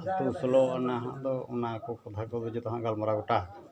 ᱟᱛᱳ ᱥᱳᱞᱳ ᱟᱱᱟ ᱦᱟᱸᱜ ᱫᱚ ᱚᱱᱟ ᱠᱚ ᱠᱟᱛᱷᱟ ᱠᱚᱫᱚ ᱡᱚᱛᱚ ᱦᱟᱸᱜ ᱜᱟᱞᱢᱟᱨᱟᱣ ᱜᱚᱴᱟ ᱟᱠᱟᱱᱟ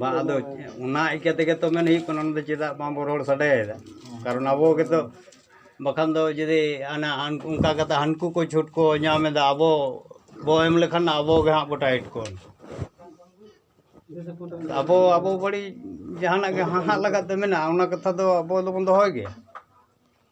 ᱵᱟᱝ ᱟᱫᱚ ᱚᱱᱟ ᱤᱭᱠᱟᱹ ᱛᱮᱜᱮ ᱛᱚ ᱢᱮᱱ ᱦᱩᱭᱩᱜ ᱠᱟᱱᱟ ᱚᱱᱟ ᱫᱚ ᱪᱮᱫᱟᱜ ᱵᱟᱝ ᱵᱚᱱ ᱨᱚᱲ ᱥᱟᱰᱮᱭᱮᱫᱟ ᱠᱟᱨᱚᱱ ᱟᱵᱚ ᱜᱮᱛᱚ ᱵᱟᱠᱷᱟᱱ ᱫᱚ ᱡᱩᱫᱤ ᱦᱟᱱᱟ ᱚᱱᱠᱟ ᱠᱟᱛᱮᱫ ᱦᱟᱹᱱᱠᱩ ᱠᱚ ᱪᱷᱩᱴ ᱠᱚ ᱧᱟᱢᱮᱫᱟ ᱟᱵᱚ ᱵᱚ ᱮᱢ ᱞᱮᱠᱷᱟᱱ ᱟᱵᱚ ᱜᱮ ᱦᱟᱸᱜ ᱵᱚ ᱴᱟᱭᱤᱴ ᱠᱚᱣᱟ ᱟᱵᱚ ᱟᱵᱚ ᱵᱟᱹᱲᱤᱡ ᱡᱟᱦᱟᱱᱟᱜ ᱜᱮ ᱦᱟᱦᱟᱜ ᱞᱟᱜᱟᱫ ᱛᱮ ᱢᱮᱱᱟᱜᱼᱟ ᱚᱱᱟ ᱠᱟᱛᱷᱟ ᱫᱚ ᱟᱵᱚ ᱫᱚᱵᱚᱱ ᱫᱚᱦᱚᱭ ᱜᱮᱭᱟ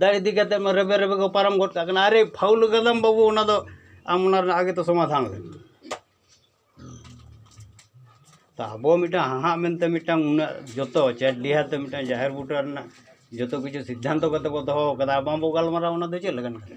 ᱫᱟᱜ ᱤᱫᱤ ᱠᱟᱛᱮᱫ ᱢᱟ ᱨᱮᱵᱮ ᱨᱮᱵᱮ ᱠᱚ ᱯᱟᱨᱚᱢ ᱜᱚᱫ ᱠᱟᱜ ᱠᱟᱱᱟ ᱟᱨᱮ ᱯᱷᱟᱣᱩᱞ ᱠᱟᱫᱟᱢ ᱵᱟᱹᱵᱩ ᱚᱱᱟ ᱫᱚ ᱟᱢ ᱚᱱᱟ ᱨᱮᱱᱟᱜ ᱟᱜᱮ ᱛᱚ ᱥᱚᱢᱟᱫᱷᱟᱱ ᱞᱮᱢ ᱛᱚ ᱟᱵᱚ ᱢᱤᱫᱴᱟᱝ ᱦᱟᱦᱟᱜ ᱢᱮᱱᱛᱮ ᱢᱤᱫᱴᱟᱝ ᱩᱱᱟᱹᱜ ᱡᱚᱛᱚ ᱪᱮᱫ ᱰᱤᱦᱟᱹᱛ ᱛᱮ ᱢᱤᱫᱴᱟᱝ ᱡᱟᱦᱮᱨ ᱵᱩᱴᱟᱹ ᱨᱮᱱᱟᱜ ᱡᱚᱛᱚ ᱠᱤᱪᱷᱩ ᱥᱤᱫᱽᱫᱷᱟᱱᱛᱚ ᱠᱟᱛᱮᱫ ᱵᱚᱱ ᱫᱚᱦᱚ ᱠᱟᱫᱟ ᱵᱟᱝᱵᱚᱱ ᱜᱟᱞᱢᱟᱨᱟᱣᱟ ᱚᱱᱟ ᱫᱚ ᱪᱮᱫ ᱞᱮᱠᱟᱱ ᱠᱟᱛᱷᱟ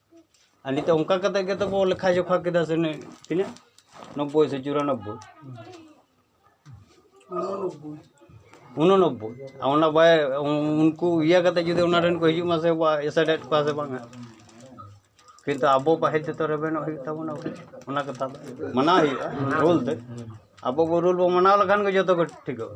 ᱟᱨ ᱱᱤᱛᱚᱜ ᱚᱱᱠᱟ ᱠᱟᱛᱮ ᱜᱮᱛᱚ ᱠᱚ ᱞᱮᱠᱷᱟ ᱡᱚᱠᱷᱟ ᱠᱮᱫᱟ ᱥᱮ ᱛᱤᱱᱟᱹᱜ ᱱᱚᱵᱵᱳᱭ ᱥᱮ ᱪᱩᱨᱟᱱᱚᱵᱵᱳᱭ ᱩᱱᱩᱱᱚᱵᱵᱳᱭ ᱟᱨ ᱚᱱᱟ ᱵᱟᱭ ᱩᱱᱠᱩ ᱤᱭᱟᱹ ᱠᱟᱛᱮ ᱡᱩᱫᱤ ᱚᱱᱟ ᱨᱮᱱ ᱠᱚ ᱦᱤᱡᱩᱜ ᱢᱟᱥᱮ ᱮᱥᱮᱴᱮᱫ ᱠᱚᱣᱟ ᱥᱮ ᱵᱟᱝᱟ ᱠᱤᱱᱛᱩ ᱟᱵᱚ ᱯᱟᱹᱦᱤᱞ ᱛᱮᱫᱚ ᱨᱮᱵᱮᱱᱚᱜ ᱦᱩᱭᱩᱜ ᱛᱟᱵᱚᱱᱟ ᱚᱱᱟ ᱠᱟᱛᱷᱟ ᱫᱚ ᱢᱟᱱᱟᱣ ᱦᱩᱭᱩᱜᱼᱟ ᱨᱩᱞ ᱛᱮ ᱟᱵᱚ ᱵᱚ ᱨᱩᱞ ᱵᱚ ᱢᱟᱱᱟᱣ ᱞᱮᱠᱷᱟᱱ ᱜᱮ ᱡᱚᱛᱚ ᱜᱮ ᱴᱷᱤᱠᱚᱜᱼᱟ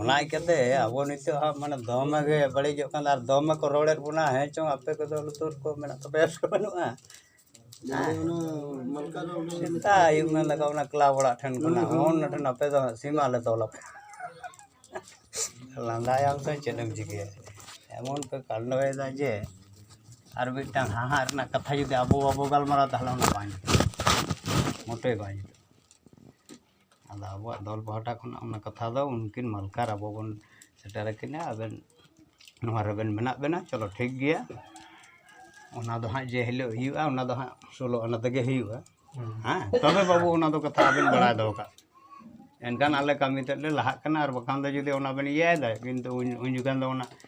ᱚᱱᱟ ᱤᱠᱟᱹᱛᱮ ᱟᱵᱚ ᱱᱤᱛᱚᱜ ᱦᱟᱸᱜ ᱢᱟᱱᱮ ᱫᱚᱢᱮ ᱜᱮ ᱵᱟᱹᱲᱤᱡᱚᱜ ᱠᱟᱱᱟ ᱟᱨ ᱫᱚᱢᱮ ᱠᱚ ᱨᱚᱲᱮᱫ ᱵᱚᱱᱟ ᱦᱮᱸ ᱪᱚᱝ ᱟᱯᱮ ᱠᱚᱫᱚ ᱞᱩᱛᱩᱨ ᱠᱚ ᱢᱮᱱᱟᱜ ᱛᱟᱯᱮᱭᱟ ᱥᱮ ᱵᱟᱹᱱᱩᱜᱼᱟ ᱥᱮᱛᱟᱜ ᱟᱹᱭᱩᱵ ᱢᱮᱱ ᱞᱮᱠᱟ ᱚᱱᱟ ᱠᱞᱟᱵᱽ ᱚᱲᱟᱜ ᱴᱷᱮᱱ ᱠᱷᱚᱱᱟᱜ ᱚᱱᱟ ᱴᱷᱮᱱ ᱟᱯᱮ ᱫᱚ ᱥᱤᱢᱟ ᱞᱮ ᱛᱚᱞ ᱟᱯᱮᱭᱟ ᱞᱟᱸᱫᱟᱭᱟᱢ ᱛᱚ ᱪᱮᱫ ᱮᱢ ᱪᱤᱠᱟᱹᱭᱟ ᱮᱢᱚᱱ ᱯᱮ ᱠᱟᱱᱰᱚᱭᱮᱫᱟ ᱡᱮ ᱟᱨ ᱢᱤᱫᱴᱟᱝ ᱦᱟᱦᱟᱲᱟᱜ ᱨᱮᱱᱟᱜ ᱠᱟᱛᱷᱟ ᱡᱩᱫᱤ ᱟᱵᱚ ᱵᱟᱵᱚ ᱜᱟᱞᱢᱟᱨᱟᱣᱟ ᱛᱟᱦᱚᱞᱮ ᱚᱱᱟ ᱵᱟᱝ ᱡᱩᱛᱩᱜᱼᱟ ᱢᱳᱴᱮ ᱵᱟᱝ ᱡᱩᱛᱩᱜᱼᱟ ᱟᱫᱚ ᱟᱵᱚᱣᱟᱜ ᱫᱚᱞ ᱯᱟᱦᱴᱟ ᱠᱷᱚᱱᱟᱜ ᱚᱱᱟ ᱠᱟᱛᱷᱟ ᱫᱚ ᱩᱱᱠᱤᱱ ᱢᱟᱞᱠᱟᱨ ᱟᱵᱚ ᱵᱚᱱ ᱥᱮᱴᱮᱨ ᱟᱹᱠᱤᱱᱟ ᱟᱵᱮᱱ ᱱᱚᱣᱟ ᱨᱮᱵᱮᱱ ᱢᱮᱱᱟᱜ ᱵᱮᱱᱟ ᱪᱚᱞᱚ ᱴᱷᱤᱠ ᱜᱮᱭᱟ ᱚᱱᱟ ᱫᱚ ᱦᱟᱸᱜ ᱡᱮ ᱦᱤᱞᱳᱜ ᱦᱩᱭᱩᱜᱼᱟ ᱚᱱᱟ ᱫᱚ ᱦᱟᱸᱜ ᱥᱳᱞᱳ ᱟᱱᱟ ᱛᱮᱜᱮ ᱦᱩᱭᱩᱜᱼᱟ ᱦᱮᱸ ᱛᱚᱵᱮ ᱵᱟᱹᱵᱩ ᱚᱱᱟ ᱫᱚ ᱠᱟᱛᱷᱟ ᱟᱵᱮᱱ ᱵᱟᱲᱟᱭ ᱫᱚᱦᱚ ᱠᱟᱜ ᱮᱱᱠᱷᱟᱱ ᱟᱞᱮ ᱠᱟᱹᱢᱤ ᱛᱮᱫ ᱞᱮ ᱞᱟᱦᱟᱜ ᱠᱟᱱᱟ ᱟᱨ ᱵᱟᱠᱷᱟᱱ ᱫᱚ ᱡᱩᱫᱤ ᱚᱱᱟ ᱵᱮᱱ ᱤᱭᱟᱹᱭᱮᱫᱟ ᱠᱤᱱᱛᱩ ᱩᱱ ᱡᱚᱠᱷᱚᱱ ᱫᱚ ᱚᱱᱟ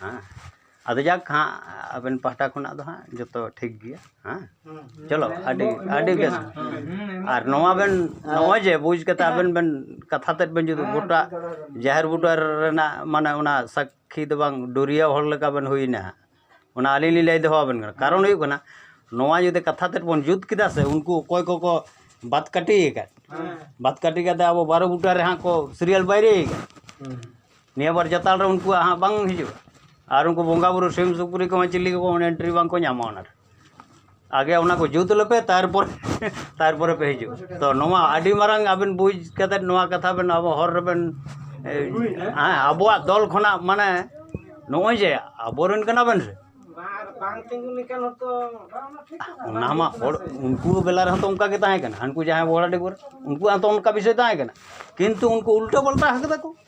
ᱦᱮᱸ ᱟᱫᱚ ᱡᱟᱠ ᱦᱟᱸᱜ ᱟᱵᱮᱱ ᱯᱟᱦᱴᱟ ᱠᱷᱚᱱᱟᱜ ᱫᱚ ᱦᱟᱸᱜ ᱡᱚᱛᱚ ᱴᱷᱤᱠ ᱜᱮᱭᱟ ᱦᱮᱸ ᱪᱚᱞᱚ ᱟᱹᱰᱤ ᱟᱹᱰᱤ ᱵᱮᱥ ᱟᱨ ᱱᱚᱣᱟ ᱵᱮᱱ ᱱᱚᱜᱼᱚᱭ ᱡᱮ ᱵᱩᱡᱽ ᱠᱟᱛᱮ ᱟᱵᱮᱱ ᱵᱮᱱ ᱠᱟᱛᱷᱟ ᱛᱮᱫ ᱵᱮᱱ ᱡᱩᱫᱤ ᱜᱚᱴᱟ ᱡᱟᱦᱮᱨ ᱵᱩᱴᱟᱹ ᱨᱮᱱᱟᱜ ᱢᱟᱱᱮ ᱚᱱᱟ ᱥᱟᱹᱠᱷᱤ ᱫᱚ ᱵᱟᱝ ᱰᱩᱨᱤᱭᱟᱹ ᱦᱚᱲ ᱞᱮᱠᱟ ᱵᱮᱱ ᱦᱩᱭᱱᱟ ᱚᱱᱟ ᱟᱹᱞᱤᱧ ᱞᱤᱧ ᱞᱟᱹᱭ ᱫᱚᱦᱚ ᱟᱵᱮᱱ ᱠᱟᱱᱟ ᱠᱟᱨᱚᱱ ᱦᱩᱭᱩᱜ ᱠᱟᱱᱟ ᱱᱚᱣᱟ ᱡᱩᱫᱤ ᱠᱟᱛᱷᱟ ᱛᱮᱫ ᱵᱚᱱ ᱡᱩᱛ ᱠᱮᱫᱟ ᱥᱮ ᱩᱱᱠᱩ ᱚᱠᱚᱭ ᱠᱚᱠᱚ ᱵᱟᱫ ᱠᱟᱹᱴᱤ ᱟᱠᱟᱫ ᱵᱟᱫ ᱠᱟᱹᱴᱤ ᱠᱟᱛᱮ ᱟᱵᱚ ᱵᱟᱨᱚ ᱵᱩᱴᱟᱹ ᱨᱮ ᱦᱟᱸᱜ ᱠᱚ ᱥᱤᱨᱤᱭᱟᱞ ᱵᱟᱭᱨᱤ ᱟᱠᱟᱫ ᱱᱤᱭᱟᱹ ᱵᱟᱨ ᱡᱟᱛᱟᱞ ᱨᱮ ᱩᱱᱠᱩᱣᱟᱜ ᱦᱟᱸᱜ ᱵᱟᱝ ᱦᱤᱡᱩᱜᱼᱟ ᱟᱨ ᱩᱱᱠᱩ ᱵᱚᱸᱜᱟ ᱵᱳᱨᱳ ᱥᱤᱢ ᱥᱩᱠᱨᱤ ᱠᱚᱦᱚᱸ ᱪᱤᱞᱤ ᱠᱚᱦᱚᱸ ᱚᱱᱟ ᱮᱱᱴᱨᱤ ᱵᱟᱝ ᱠᱚ ᱧᱟᱢᱟ ᱚᱱᱟᱨᱮ ᱟᱜᱮ ᱚᱱᱟ ᱠᱚ ᱡᱩᱛ ᱞᱮᱯᱮ ᱛᱟᱨᱯᱚᱨ ᱛᱟᱨᱯᱚᱨᱮ ᱯᱮ ᱦᱤᱡᱩᱜᱼᱟ ᱛᱚ ᱱᱚᱣᱟ ᱟᱹᱰᱤ ᱢᱟᱨᱟᱝ ᱟᱹᱵᱤᱱ ᱵᱩᱡᱽ ᱠᱟᱛᱮᱫ ᱱᱚᱣᱟ ᱠᱟᱛᱷᱟ ᱵᱮᱱ ᱟᱵᱚ ᱦᱚᱨ ᱨᱮᱵᱮᱱ ᱟᱵᱚᱣᱟᱜ ᱫᱚᱞ ᱠᱷᱚᱱᱟᱜ ᱢᱟᱱᱮ ᱱᱚᱜᱼᱚᱭ ᱡᱮ ᱟᱵᱚ ᱨᱮᱱ ᱠᱟᱱᱟ ᱵᱮᱱ ᱥᱮ ᱚᱱᱟ ᱢᱟ ᱦᱚᱲ ᱩᱱᱠᱩ ᱵᱮᱞᱟ ᱨᱮᱦᱚᱸ ᱛᱚ ᱚᱱᱠᱟ ᱜᱮ ᱛᱟᱦᱮᱸ ᱠᱟᱱᱟ ᱦᱟᱹᱱᱠᱩ ᱡᱟᱦᱟᱸᱭ ᱵᱚᱦᱲᱟᱰᱤ ᱠᱚᱨᱮ ᱩᱱᱠᱩᱣᱟᱜ ᱦᱚᱸᱛᱚ ᱚᱱᱠᱟ ᱵᱤᱥᱚᱭ ᱛᱟᱦᱮᱸ ᱠᱟᱱᱟ ᱠᱤᱱᱛᱩ ᱩᱱᱠᱩ ᱩᱞᱴᱟᱹ ᱯᱟᱞᱴᱟ ᱠᱟᱫᱟ ᱠᱚ